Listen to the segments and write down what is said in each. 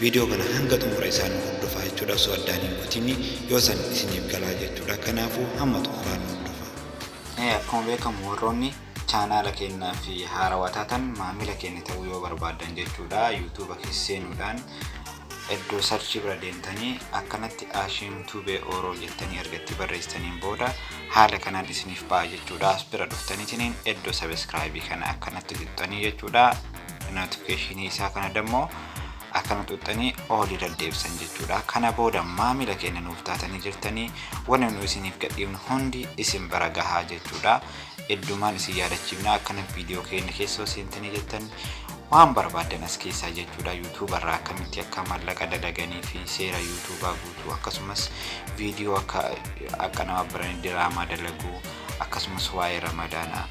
Video kana hanga xumura isaa nu hordofaa jechuudha osoo addaan hin kutini yoo san isiniif galaa jechuudha kanaafu hamma xumuraa nu hordofaa. Ee akkuma beekamu warroonni chaanaala keenya fi haarawaa taatan maamila keenya ta'uu yoo barbaaddan jechuudha yuutuuba keessa seenuudhaan iddoo sarchii bira deemtanii akkanatti Ashiim Tube Oro jettanii erga itti barreessitaniin booda haala kanaan isiniif ba'a jechuudha as bira dhuftaniitiin iddoo sabiskiraayibii kana akkanatti tuqxanii jechuudha notification isaa kana dammoo akkana xuxxanii oolii daddeebisan jechuudha kana booda maamila keenya nuuf taatanii jirtanii wanni nu isiniif gadhiifnu hundi isin bira gahaa jechuudha heddumaan isin yaadachiifna akkana viidiyoo keenya keessoo seentanii jettan waan barbaadan as keessaa jechuudha yuutuuba irraa akkamitti akka mallaqa dalaganii fi seera yuutuubaa guutuu akkasumas viidiyoo akka akka nama biranii diraamaa dalaguu akkasumas waa'ee ramadaanaa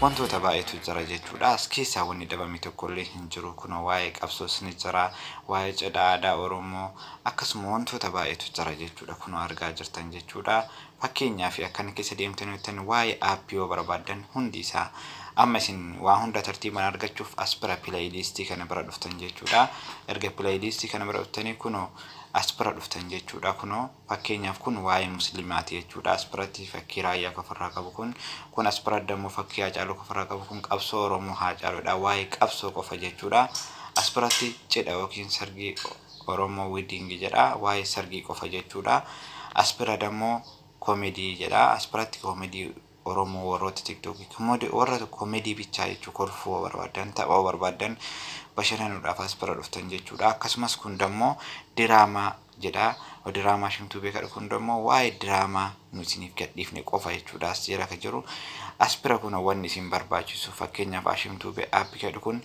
Wantoota baay'eetu jira jechuudha. As keessaa wanni dhabame tokkollee hin jiru. Kunoo waa'ee qabsoos ni jira, waa'ee cidha aadaa Oromoo, akkasuma wantoota baay'eetu jira jechuudha. Kunoo argaa jirtan jechuudha. Fakkeenyaaf akkana keessa deemtanii hojjettan waa'ee app yoo barbaaddan hundi isaa amma isin waa hunda tartiibaan argachuuf as bira pileeyiliistii kana bira dhuftan jechuudha. Erga pileeyiliistii kana bira dhuftanii kunoo as bira dhuftan jechuudha. Kunoo Fakkeenyaaf kun waa'ee muslimaati jechuudha. As biratti fakkii Raayyaa kan ofirraa qabu kun. Kun as biratti ammoo fakkii Haacaaluu kan ofirraa qabu kun qabsoo Oromoo Haacaaluudha. Waa'ee qabsoo qofa jechuudha. As biratti cidha yookiin sargii Oromoo wedding jedha. Waa'ee sargii qofa jechuudha. As bira dammoo comedy jedha. As biratti comedy Oromoo warrooti tiktoki kmode warra comedy bichaa jechuu kolfuu barbaaddan tapha barbaaddan bashananuudhaaf as bira dhuftan jechuudha akkasumas kun dammo diraamaa jedha diraamaa shimtuu beekadha kun dammo waa'ee diraamaa nu isiniif gadhiifne qofa jechuudha as jira ka jiru as bira kun wanni isin barbaachisu fakkeenyaaf ashimtuu be app jedhu kun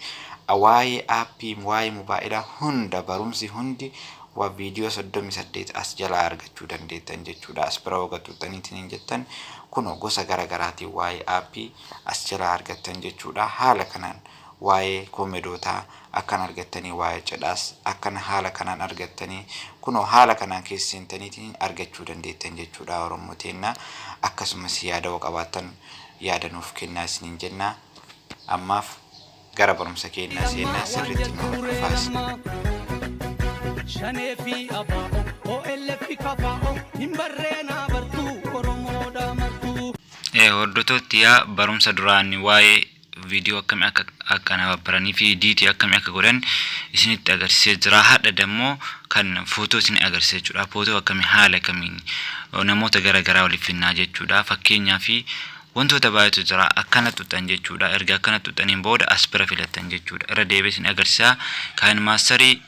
waa'ee appii waa'ee mobaa'ilaa hunda barumsi hundi wa video 38 as jalaa argachuu dandeettan jechuudha as bira hoga xuxxaniitiin hin jettan kuno gosa gara garaatiin waa'ee aappii as jalaa argattan jechuudha haala kanaan waa'ee koomedootaa akkan argattanii waa'ee cidhaas akkan haala kanaan argattanii kuno haala kanaan keessa seentaniitiin argachuu dandeettan jechuudha oromoo teenna akkasumas yaada wa qabaattan yaada nuuf kennaa isiniin jenna ammaaf Gara barumsa keennaa seennaa sirriitti nu hordofaas. Shanee fi abaa'o OLF kafaa'o hin barreenaa bartuu Oromoodha martuu. Hordotootti yaa barumsa duraan waa'ee viidiyoo akkamii akka akka na babbaranii fi diitii akkamii akka godhan isinitti agarsiisee jira. Hadha dammoo kan footoo isin agarsiisa jechuudha. Footoo akkamii haala kamiin namoota gara garaa waliif finnaa jechuudha. Fakkeenyaa fi Wantoota baay'eetu jira. Akkana xuxxan jechuudha. Erga akkana xuxxaniin booda as bira filattan jechuudha. Irra deebi'ee isin agarsiisa. Kaayeen maastarii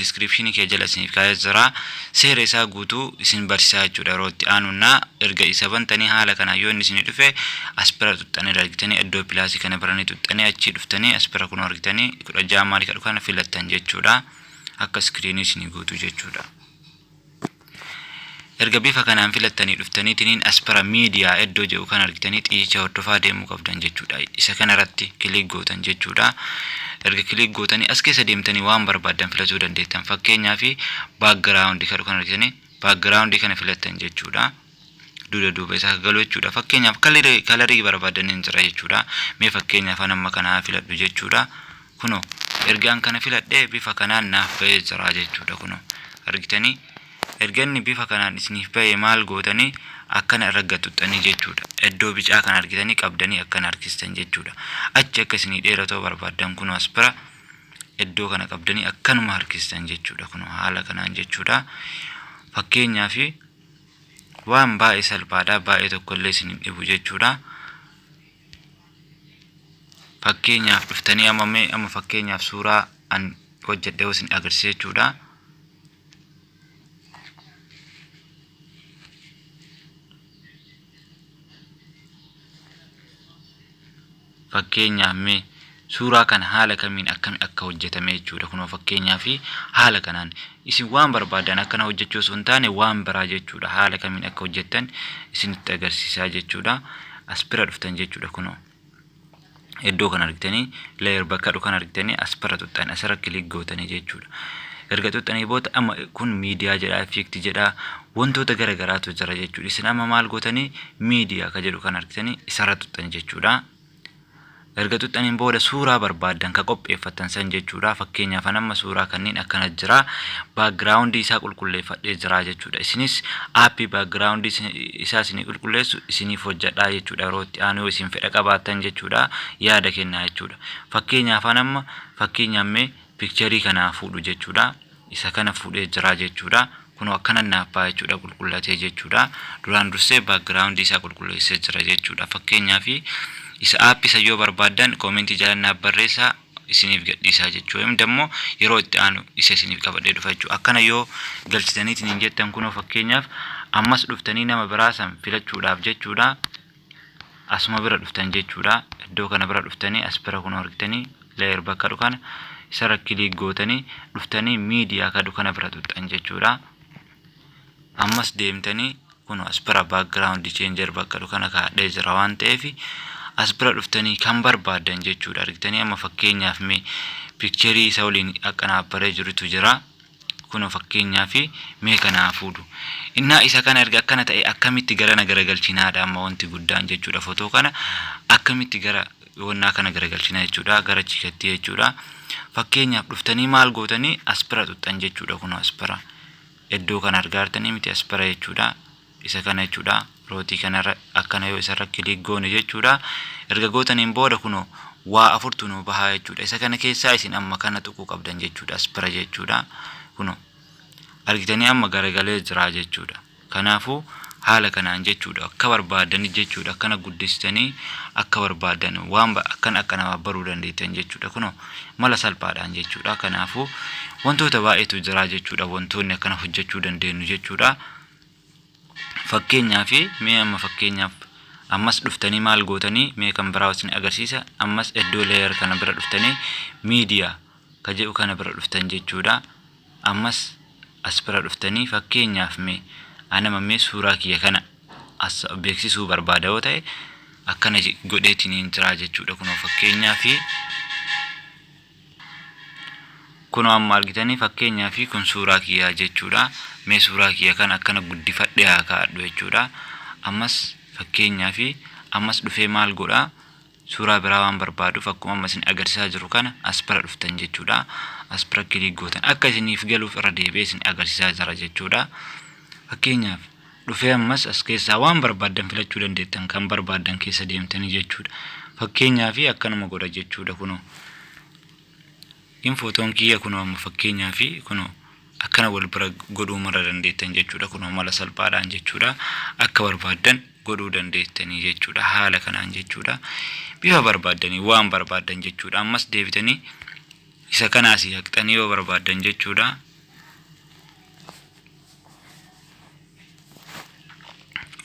diskiripshinii kee jala isiniif kaa'ee jira. Seera isaa guutuu isin barsiisaa jechuudha yeroo itti aanuunna. Erga isa bantanii haala kanaan yoo inni isinii dhufe as bira xuxxanii argitanii iddoo pilaasii kana biranii xuxxanii achii dhuftanii as bira kunoo argitanii kudha ja'a maal jedhu kana filattan jechuudha. Akka iskiriinii isinii guutuu jechuudha. Erga bifa kanaan filattanii dhuftaniitiniin as bara miidiyaa iddoo jedhu kan argitanii xiyyicha hordofaa deemuu qabdan jechuudha. Isa kanarratti kiliik gootan jechuudha. Erga kiliik gootanii as keessa deemtanii waan barbaaddan filatuu dandeettan. Fakkeenyaaf baakgiraawundi kan argitanii baakgiraawundii kana filattan jechuudha. duda duuba isaa galu jechuudha fakkeenyaaf kalarii kalarii barbaadaniin jira jechuudha mee fakkeenyaaf an amma kana haa filadhu jechuudha kuno ergaan kana filadhee bifa kanaan naaf ba'ee jira jechuudha kuno argitanii erga inni bifa kanaan isiniif ba'e maal gootanii akkana irra gatuxxanii jechuudha iddoo bicaa kan argitanii qabdanii akkana harkistan jechuudha achi akka isinii dheeratoo barbaaddan kuno as bira iddoo kana qabdanii akkanuma harkistan jechuudha kuno haala kanaan jechuudha fakkeenyaaf Waan baay'ee salphaadha, baay'ee tokkollee isin hin dhibu jechuudha. Fakkeenyaaf dhuftanii amma mee amma fakkeenyaaf suuraa an hojjedhe yoo isin agarsiise jechuudha. fakkeenyaa mee suuraa kana haala kamiin akkami akka hojjetame jechuudha kunoo fakkeenyaa fi haala kanaan isin waan barbaadan akkana hojjechuu osoo hin taane waan biraa jechuudha haala kamiin akka hojjettan isinitti agarsiisaa jechuudha as bira dhuftan jechuudha kunoo iddoo kan argitanii layer bakka jedhu kan argitanii asirra tuqxan asirra kilik gootanii jechuudha. Erga tuqxanii booda amma kun miidiyaa jedha effect jedha wantoota gara garaatu jira jechuudha. Isin amma maal gootanii miidiyaa ka jedhu kan argitanii isarra tuqxan jechuudha. Erga tuqxaniin booda suuraa barbaaddan ka qopheeffattan san jechuudha. Fakkeenyaaf an amma suuraa kanneen akkana jira background isaa qulqulleeffadhee jira jechuudha. jechuudha. Isinis app background isaa isinii qulqulleessu isiniif hojjadhaa jechuudha. Yeroo itti aanu yoo isin fedha qabaattan jechuudha yaada kennaa jechuudha. Fakkeenyaaf an amma fakkeenyaaf mee picture kanaa fuudhu jechuudha. Isa kana fuudhee jira jechuudha. Kunoo akkanan naaf ba'a jechuudha qulqullatee jechuudha. Duraan dursee background isaa qulqulleessee jira jechuudha. Fakkeenyaaf isa app isa yoo barbaaddan comment jalan naaf barreessaa. isiniif gadhiisaa jechuu him dammoo yeroo itti aanu isa isiniif qabadhee dhufa jechuu akkana yoo galchitaniitiin hin jettan kunoo fakkeenyaaf ammas dhuftanii nama biraa san filachuudhaaf jechuudha asuma bira dhuftan jechuudha iddoo kana bira dhuftanii as bira kunoo argitanii layer bakka dhukana isarra kiliik gootanii dhuftanii miidiyaa ka dhukana bira tuxxan jechuudha Ammas deemtani kuno as bira background changer bakka dhu kana kaadhee jira waan ta'eef as bira dhuftanii kan barbaadan jechuudha argitanii amma fakkeenyaaf mee picture isa waliin akkanaa baree jirutu jira kuno fakkeenyaa fi mee kanaa fuudhu innaa isa kana erga akkana ta'e akkamitti gara na garagalchinaadha amma wanti guddaan jechuudha fotoo kana akkamitti gara wannaa kana garagalchina jechuudha gara chiikatti jechuudha fakkeenyaaf dhuftanii maal gootanii aspira xuxxan jechuudha kun aspira iddoo kana argaartanii miti aspira jechuudha isa kana jechuudha rootii kanarra akkana yoo isarra kiliik goone jechuudha erga gootaniin booda kunoo waa afurtu nuu bahaa jechuudha isa kana keessaa isin amma kana tuquu qabdan jechuudha aspira jechuudha kunoo argitanii amma garagalee jiraa jechuudha Kanaafuu haala kanaan jechuudha akka barbaaddan jechuudha akkana guddistanii akka barbaaddan waan ba- akkan akka namaaf baruu dandeettan jechuudha kuno mala salphaadhaan jechuudha kanaafuu wantoota baay'eetu jira jechuudha wantoonni akkana hojjechuu dandeenyu jechuudha fakkeenyaaf mee amma fakkeenyaaf ammas dhuftanii maal gootanii mee kan biraa isin agarsiisa ammas iddoo layer kana bira dhuftanii miidiyaa ka jedhu kana bira dhuftan jechuudha. Ammas as bira dhuftanii fakkeenyaaf mee anama mee suuraa kiyya kana as beeksisuu barbaada yoo ta'e akkana je- godheetiniin jiraa jechuudha kunoo fakkeenyaa fi kunoo amma argitanii fakkeenyaa fi kun suuraa kiyyaa jechuudha mee suuraa kiyya kana akkana guddifadhe haa kaa'adhu jechuudha ammas fakkeenyaa fi ammas dhufee maal godhaa Suuraa biraa waan barbaaduuf akkuma amma isin agarsiisaa jiru kana as bira dhuftan jechuudha. As bira kiliik gootan akka isiniif galuuf irra deebi'ee isin agarsiisaa jira jechuudha. Fakkeenyaaf dhufee ammas as keessaa waan barbaaddan filachuu dandeettan kan barbaaddan keessa deemtanii jechuudha. Fakkeenyaaf akkanuma godha jechuudha kunoo. Hin footoon kiyya kunoo amma fakkeenyaa fi kunoo akkana wal bira godhuu mara dandeettan jechuudha kunoo mala salphaadhaan jechuudha akka barbaaddan godhuu dandeettanii jechuudha haala kanaan jechuudha bifa barbaaddanii waan barbaaddan jechuudha ammas deebitanii isa kana asii haqxanii yoo barbaaddan jechuudha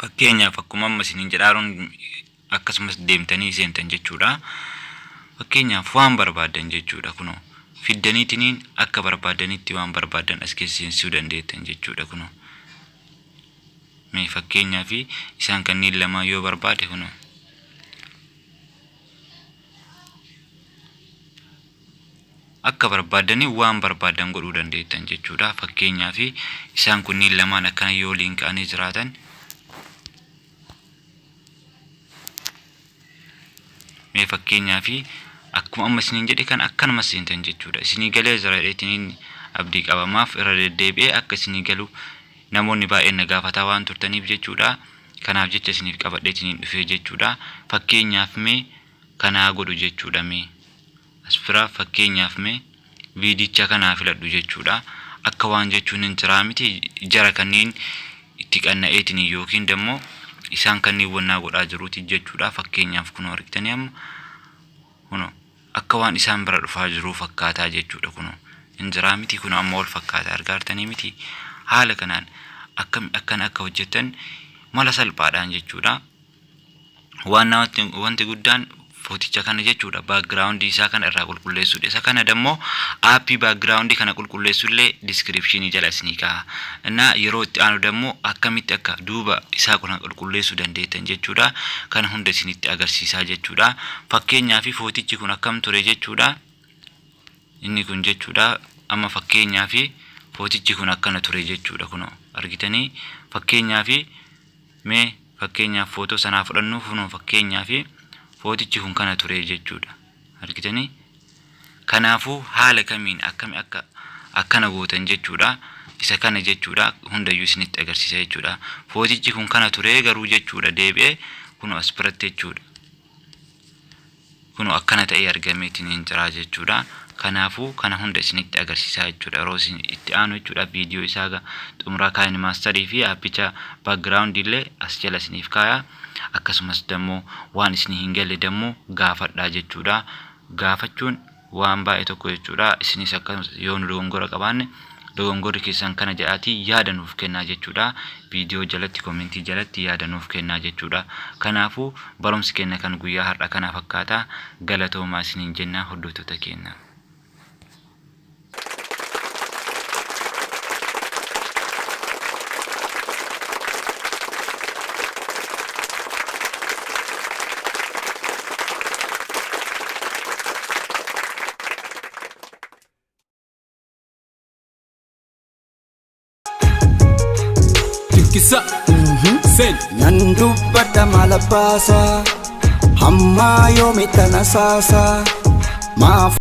fakkeenyaaf akkuma amma isiniin jedhaaruun akkasumas deemtanii seentan jechuudha. Fakkeenyaaf waan barbaaddan jechuudha kunoo fiddaniitiniin akka barbaaddanitti waan barbaaddan as keessa seensisuu dandeettan jechuudha kunoo. Mee fakkeenyaaf isaan kanneen lamaa yoo barbaade kunoo. akka barbaaddanii waan barbaaddan godhuu dandeettan jechuudha. Fakkeenyaaf isaan kunniin lamaan akkana yoo waliin ka'anii jiraatan mee fakkeenyaa fi akkuma amma isiniin jedhe kan akkanuma seentan jechuudha isinii galee jira jedheetiniin abdii qabamaaf irra deddeebi'ee akka isinii galu namoonni baay'een na gaafataa waan turtaniif jechuudha kanaaf jecha isiniif qabadheetiniin dhufee jechuudha fakkeenyaaf mee kanaa godhu jechuudha mee As biraa fakkeenyaaf mee viidicha kana haa filadhu jechuudha. Akka waan jechuun hin jiraa miti jara kanneen itti qanna'eetiin yookiin dammoo isaan kanneen wannaa godhaa jiruuti jechuudha. Fakkeenyaaf kunoo argitanii amma kunoo akka waan isaan bira dhufaa jiruu fakkaataa jechuudha kunoo hin jiraa miti kunoo amma wal fakkaataa argaartanii miti haala kanaan akkam akkan akka hojjettan mala salphaadhaan jechuudha. waan namatti wanti guddaan footicha kana jechuudha background isaa kana irraa qulqulleessuudha isa kana dammoo aappii background kana qulqulleessu illee description jala isinii ka'a innaa yeroo itti aanu dammoo akkamitti akka duuba isaa kana qulqulleessuu dandeettan jechuudha kana hunda isinitti agarsiisaa jechuudha fakkeenyaa fi footichi kun akkam ture jechuudha inni kun jechuudha amma fakkeenyaa fi footichi kun akkana ture jechuudha kun argitanii fakkeenyaa fi Mee fakkeenyaaf footoo sanaa fudhannuu kunoo fakkeenyaaf footichi kun kana turee jechuudha. Argitanii? Kanaafuu haala kamiin akkami akka akkana gootan jechuudha. Isa kana jechuudha hundayyuu isinitti agarsiisa jechuudha. Footichi kun kana turee garuu jechuudha deebi'ee kunoo as biratti jechuudha. Kunoo akkana ta'ee argameetiin hin jiraa jechuudha. Kanaafuu kana hunda isinitti agarsiisaa jechuudha. Yeroo isin itti aanu jechuudha viidiyoo isaa egaa xumuraa kaayini maastarii fi aappicha background illee as jala isiniif kaaya. Akkasumas dammoo waan isinii hin galle dammoo gaafadhaa jechuudha. Gaafachuun waan baay'ee tokko jechuudha. Isinis akkasumas yoo nu dogongora qabaanne dogongorri keessan kana jedhaatii yaada nuuf kennaa jechuudha. Viidiyoo jalatti komentii jalatti yaada nuuf kennaa jechuudha. Kanaafuu barumsi kenna kan guyyaa har'a kana fakkaata. Galatoomaa isiniin jennaa hordoftoota keenya. Kisa Sen Nan dubbadha mala baasa Hammaa yoomi tana saasa Maaf